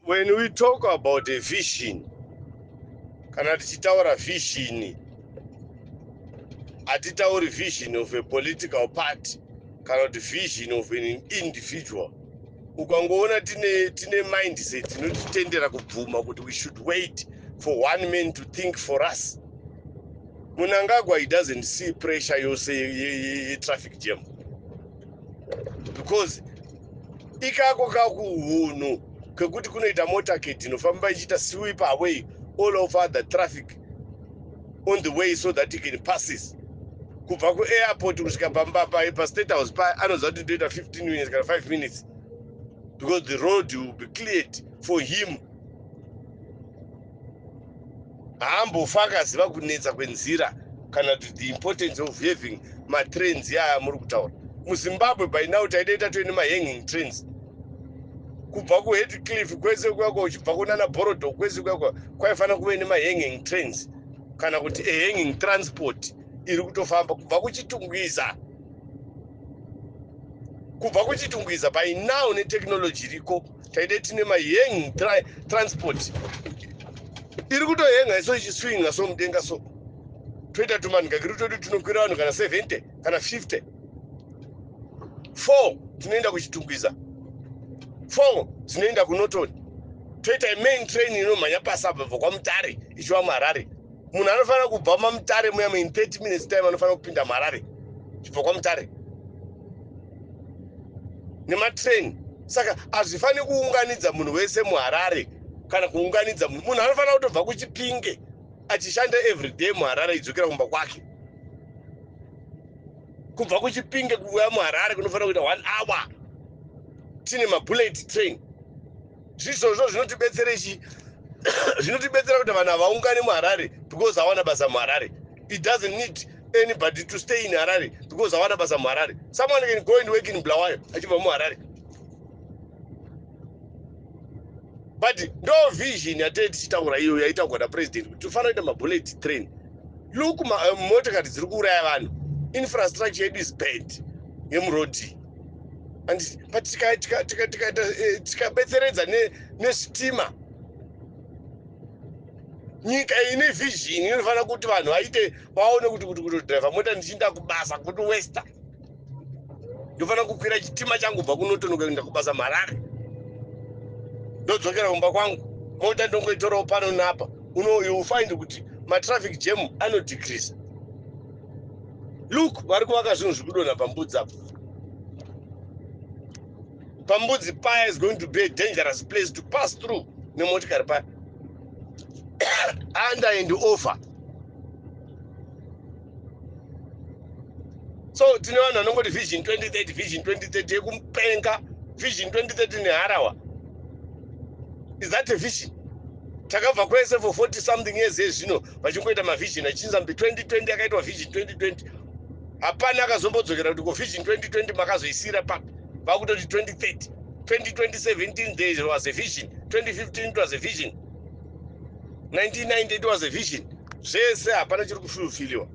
When we talk about a vision, kana tichitaura vision, hatitauri vision of a political party kana kuti vision of an individual. Ukangoona tine, tine mindset inotitendera kubvuma kuti we should wait for one man to think for us. Munangagwa, he doesn't see pressure yose ye, ye, ye traffic jam because ikako kakuhunhu kekuti kunoita motorcade inofamba ichiita sweep away all of other traffic on the way so that can passes kubva kuairport kusvika pamba paye pastate house paye anoziva kuti ndoita 15 minutes kana 5 minutes because the road will be cleared for him haambofa akaziva kunetsa kwenzira kana kuti the importance of having matrains aya muri kutaura muzimbabwe by now taidei tatove nemahanging trains kubva kuheadcliff kwese kuyako uchibva kunana borodo kwese kuyako kwaifanira kuve nemahanging trains kana kuti ahanging transport iri kutofamba kubva kuchitungwiza kubva kuchitungwiza by now netechnology iriko taide tine maheng transport iri kutohenga iso ichiswinga so mudenga so toita tumanhikakiri twedu tinokwira vanhu kana 70 kana 50 four tinoenda kuchitungwiza four dzinoenda kunotoni toita main train inomhanya pasi apa bva kwamutare ichiva muharare munhu anofanira kubva mamutare muya main 30 minutes time anofanira kupinda muharare chibva kwamutare nematrain saka hazvifaniri kuunganidza munhu wese muharare kana kuunganidza munhu munhu anofanira kutobva kuchipinge achishanda everyday muharare idzokera kumba kwake kubva kuchipinge kuuya muharare kunofanira kuita one hour tine mabullet train Zviizvozvo zvinotibetserei chii? Zvinotibetsera kuti vanhu havaungane muHarare because hawana basa muHarare. It doesn't need anybody to stay in Harare because hawana basa muHarare. Someone can go and work in Bulawayo achibva muHarare. But ndo vision yatee tichitaura iyo yaitaurwa napresident kuti tofanira kuita mabullet train. Look, eh, motokari dziri kuuraya vanhu. Infrastructure yedu is bad yemurodhi. anditi but tikabetseredza nesitima nyika ine vision inofanira kuti vanhu vaite vaone kuti kuti kutodriva mota ndichiinda kubasa kuti wester ndofanira kukwira chitima changu bva kunotonoka kuinda kubasa marare ndodzokera kumba kwangu mota ndongoitorawo pano napa uno you find kuti matraffic jam anodecrease look vari kuvaka zvinhu zviri kudonha pambudzi apo pambudzi paya is going to be a dangerous place to pass through nemotikari paya under and over so tine vanhu vanongoti vision 2030 vision 2030 yekumupenga vision 2030 neharawa is that a vision takabva kwese for 40 something years ezvino vachingoita mavision achinzi ambi 2020 akaitwa vision 2020 hapana akazombodzokera kuti ko vision 2020 makazoisira papi vakutoti 2030 2017 there was a vision 2015 it was a vision 1990 it was a vision zvese hapana chiri kufulfiliwa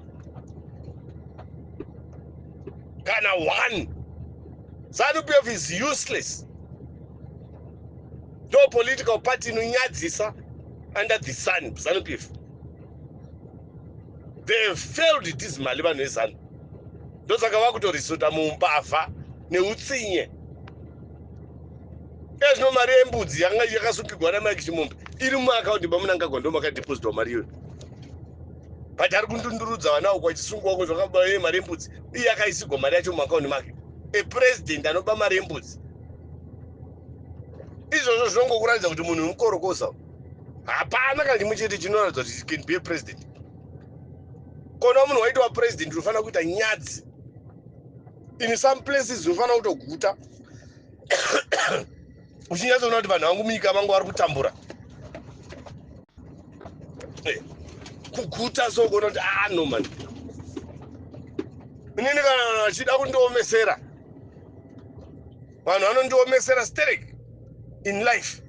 kana one zanu pf is useless ndo political party inonyadzisa under the sun zanu pf they have failed dismally vanhu vezanu ndosaka vakutorisota mumbavha neutsinye ezvino mari yembudzi yanga yakasungigwa namike chimombe iri mumaakaundi mamunangagwa ndo makadepositwa mari iyoyo but ari kundundurudza vana uko achisungwa uko zvakaba ye mari yembudzi iye akaisigwa mari yacho mumaakaundi make a president anoba mari yembudzi izvozvo zvinongokuratidza kuti munhu mukorokosa hapana kana chimwe chete chinoratidza kuti can be a president kona munhu waitova president unofanira kuita nyadzi in some places unofanira kutoguta uchinyatsoona kuti vanhu vangu munyika vangu vari kutambura eh, kuguta so kuona kuti ah no man inini kana achida kundiomesera vanhu vanondiomesera sterek in life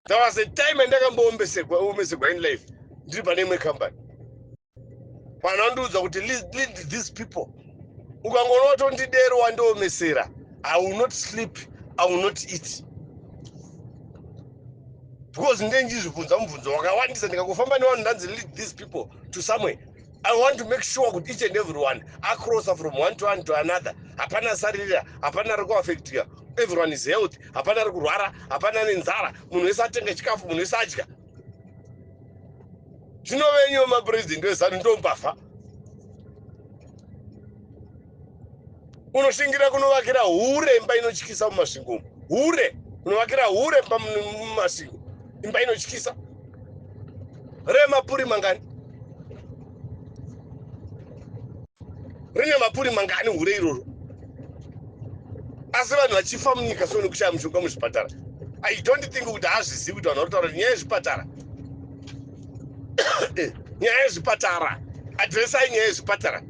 there was a time andakamboombeserwa omesegwa in life ndiri pane imwe company vanhu vandiudza kuti lead these people ukangoona watondidero wandiomesera i will not sleep i will not eat because ndendizvibvunza mubvunzo wakawandisa ndikangofamba nevanhu ndanzi lead these people to somewhere I want to make sure kuti each and everyone acrossa from one to one to another hapana asaririra hapana ari kuaffectika everyone is healthy hapana ari kurwara hapana ane nzara munhu wese atenge chikafu munhu wese adya zvinovenyiwo mapresident wezanu ndombafa unoshingira kunovakira hure imba inotyisa mumasvingo umu hure unovakira hure imba mumasvingo imba inotyisa remapuri mangani rine mapuri mangani hure iroro asi vanhu vachifa munyika so nekushaya mushonga muzvipatara i don't think kuti hazvizivi kuti vanhu vanotaura nyaya yezvipatara eh, nyaya yezvipatara adresai nyaya yezvipatara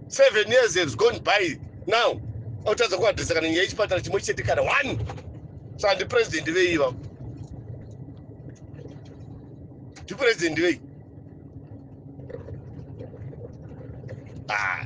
seven years has gone by now autadza kuadresa kana nyaya yechipatara chimwe chete kana one so handi president vei ivavo ndipresident vei ah.